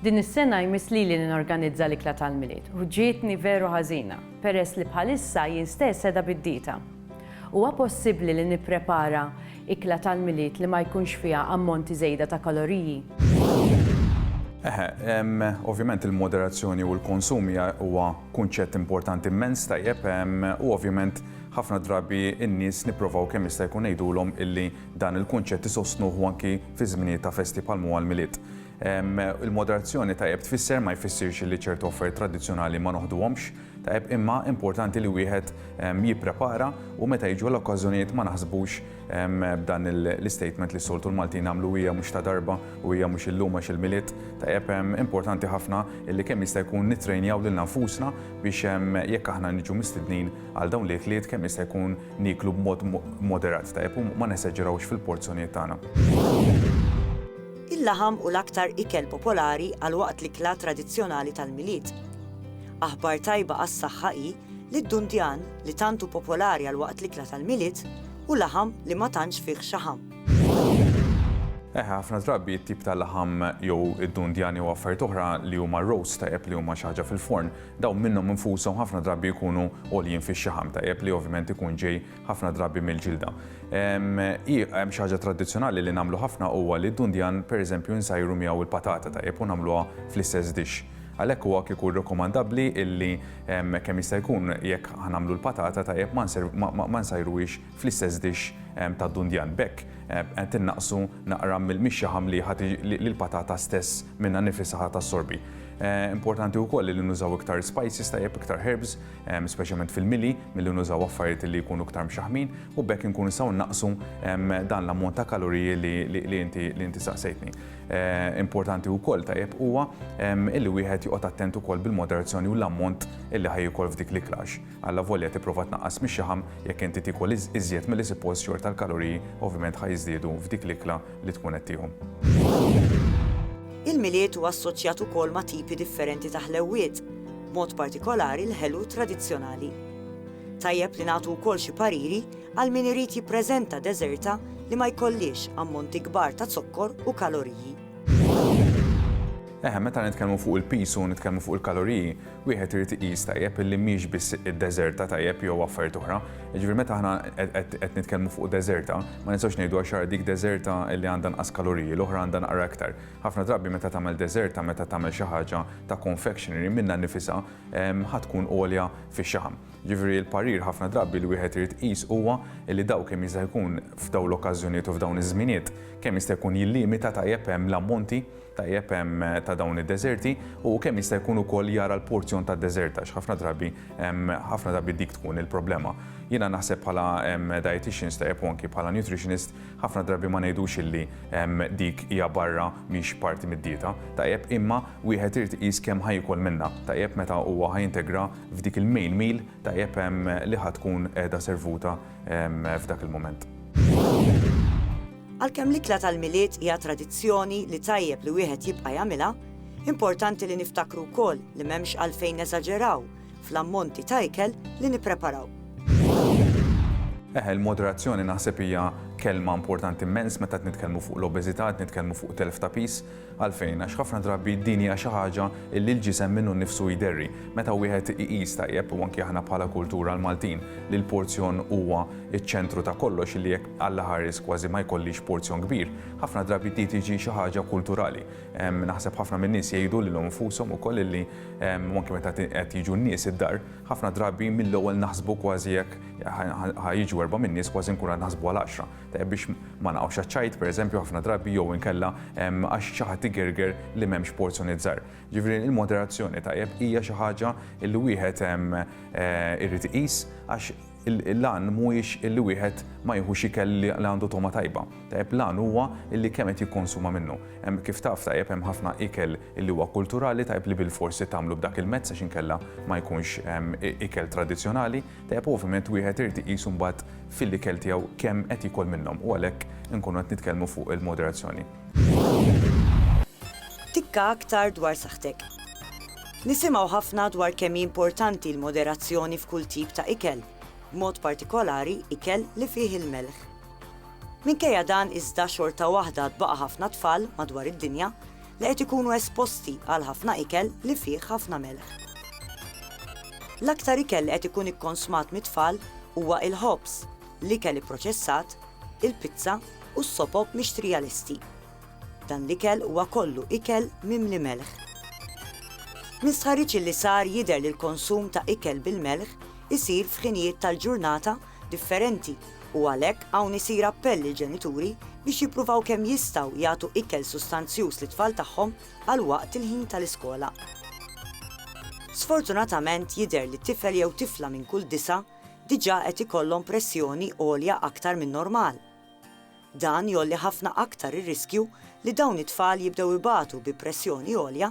Din is-sena jmiss lili li norganizza l-ikla tal-Milied u ġietni veru ħażina peress li bħalissa jien stess qiegħda bid-dieta. Huwa possibbli li nipprepara ikla tal-Milied li ma jkunx fiha ammonti żejda ta' kaloriji? Eħe, ovvjament il-moderazzjoni u l-konsum hija huwa kunċett importanti immens, tajjeb, u ovvjament ħafna drabi n-nies nipprovaw kemm jista' jkun ngħidulhom illi Dan il-kunċett isostnuh anki fi żminijiet ta' festi bħal m'huwa l-Milied. Il-moderazzjoni tajjeb tfisser ma jfissirx li ċertu offerti tradizzjonali ma noħduhomx tajjeb imma importanti li wieħed jipprepara u meta jiġu l-okkażjonijiet ma naħsbux b'dan l-istatement li soltu l-Maltin għamlu hija mhux ta' darba u hija mhux illum għax il-Milied tajjeb importanti ħafna li kemm jista' jkun nittrejnjaw lil nfusna biex jekk aħna niġu mistednin għal dawn l-ikliet kemm jista' jkun Nieklu b'mod moderat, tajjeb, u ma nesaġerawx fil-porzjonijiet tagħna. Il-laħam hu l-aktar ikel popolari għal waqt l-ikla tradizzjonali tal-Milied. Aħbar tajba għas-saħħa hi li d-dundjan, li tant hu popolari għal waqt l-ikla tal-Milied, hu laħam li ma tantx fih xaħam. Eh, ħafna drabi t-tip ta' laħam jew id-dundjan jew affarijiet oħra li huma roast tajjeb li huma xi ħaġa fil-forn, Dawn minnhom infushom ħafna drabi jkunu għoljin fix-xaħam, tajjeb li ovvjament ikun ġej ħafna drabi mill-ġilda. Hemm xi ħaġa tradizzjonali li nagħmlu ħafna huwa li d-dundjan pereżempju nsajru miegħu l-patata, tajjeb, u nagħmluha fl-istess dixx. Għalhekk huwa kieku rekomandabbli illi kemm jista' jkun jekk ħa nagħmlu l-patata, tajjeb, ma nsajruhiex fl-istess dixx tad-dundjan. B'hekk qed innaqqsu naqra mill-mixja ħamliħa li l-patata stess minnha nnifisha ħa tassorbi. Importanti wkoll li nużaw iktar spices tajjeb, iktar herbs, speċjalment fil-mili, milli nużaw affarijiet li jkunu iktar mxaħmin u b'hekk inkunu nistgħu nnaqqsu dan l-ammont ta' kaloriji li inti saqsejtni. Importanti wkoll tajjeb huwa li wieħed joqgħod attent ukoll bil-moderazzjoni u l-ammont li ħa jiekol f'dik l-ikla għax. Allavolja tipprova tnaqqas mix-xaħam, jekk inti tiekol iżjed milli sippost xorta l-kaloriji ovvjament ħa jiżdiedu f'dik l-ikla li tkun qed tieħu. Il-Milied huwa assoċjat ukoll ma' tipi differenti ta' ħlewwiet, b'mod partikolari l-ħelu tradizzjonali. Tajjeb li nagħtu wkoll xi pariri għal min irid jippreżenta deżerta li ma jkollhiex ammonti kbar ta' zokkor u kaloriji. Eħe, meta nitkellmu fuq il-piż u nitkellmu fuq il-kaloriji, wieħed irid iqis tajjeb illi mhix biss id-deżerta tajjeb jew affarijiet oħra. Jiġifieri meta aħna qed nitkellmu fuq deżerta, ma nistgħux ngħidu għax ara dik deżerta li għandha nqas kaloriji, l-oħra għandha naqra iktar. Ħafna drabi meta tagħmel deżerta, meta tagħmel xi ħaġa ta' confectionery minnha nnifisha ħa tkun għolja fix-xaħam. Jiġifieri l-parir ħafna drabi li wieħed irid iqis huwa li daw kemm jista' jkun f'dawn l-okkażjonijiet u f'dawn iż-żminijiet kemm jista' jkun jillimita tajjeb hemm l-ammonti tajjeb ta' dawn id-deżerti u kemm jista' jkun ukoll jara l-porzjon tad-deżert għax ħafna drabi ħafna drabi dik tkun il-problema. Jiena naħseb bħala dietitians tajjeb u anki bħala nutritionist ħafna drabi ma ngħidux illi dik hija barra mhix parti mid-dieta tajjeb imma wieħed irid iqis kemm ħa jiekol minnha tajjeb meta huwa ħa jintegra f'dik il-main meal tajjeb li ħa tkun qiegħda servuta f'dak il-mument. Għalkemm l-ikla tal-Milied hija tradizzjoni li tajjeb li wieħed jibqa' jagħmilha, importanti li niftakru wkoll li m'hemmx għalfejn neżaġeraw fl-ammonti ta' ikel li nippreparaw. Eħe, il-moderazzjoni naħseb hija kelma importanti mmens meta qed nitkellmu fuq l-obeżità, qed nitkellmu fuq telf ta' piż. Għalfejn? Għax ħafna drabi din hija xi ħaġa li l-ġisem minnu nnifsu jderri. Meta wieħed iqis tajjeb, u anki aħna bħala kultura l-Maltin, li l-porzjon huwa ċ-ċentru ta' kollox, illi jekk Alla ħares kważi ma jkollix porzjon kbir, ħafna drabi di tiġi xi ħaġa kulturali. Naħseb ħafna min-nies jgħidu lilhom infushom ukoll illi, u anki meta qed jiġu n-nies id-dar, ħafna drabi mill-ewwel naħsbu kważi jekk ħa jiġu erba' min-nies kważi nkunu qed naħsbu għal għaxra. biex ma naqgħux għaċ-ċajt pereżempju ħafna drabi jew inkella għax xi ħadd igerger li m'hemmx porzjonijiet żgħar. Ġifieri il-moderazzjoni tajjeb hija xi ħaġa li wieħed eh, irid iqis għax l-għan mhuwiex illi wieħed ma jieħux ikel li għandu toma tajba. Tajjeb l-għan huwa illi kemm qed jikkonsuma minnu. Hemm kif taf tajjeb hemm ħafna ikel illi huwa kulturali tajjeb li bil-forsi tagħmlu b'dak il-mezz għax inkella ma jkunx ikel tradizzjonali. Tajjeb ovvjament wieħed irid iqisu mbagħad fil-ikel tiegħu kemm qed jiekol minnhom u għalhekk inkunu qed nitkellmu fuq il-moderazzjoni. Tikka aktar dwar saħħtek. Nisimgħu ħafna dwar kemm hi importanti l-moderazzjoni f'kull tip ta' ikel, b'mod partikolari ikel li fih il-melħ. Minkejja dan iżda xorta waħda għad baqa' ħafna tfal madwar id-dinja li qed ikunu esposti għal ħafna ikel li fih ħafna melħ. L-aktar ikel li qed ikun ikkonsmat mit-tfal huwa il-ħobż, l-ikel ipproċessat, il-pizza u s-sopop mixtrija lesti. Dan l-ikel huwa kollu ikel mimli melħ. Minn stħarriġ li sar jidher li l-konsum ta' ikel bil-melħ isir f'ħinijiet tal-ġurnata differenti u għalhekk hawn isir appell lill-ġenituri biex jippruvaw kemm jistgħu jagħtu ikel sustanzjuż lit-tfal tagħhom għal waqt il-ħin tal-iskola. Sfortunatament jidher li tifel jew tifla minn kull disa' diġà qed ikollhom pressjoni għolja aktar min-normal. Dan jgħolli ħafna aktar ir-riskju li dawn it-tfal jibdew ibatu bi pressjoni għolja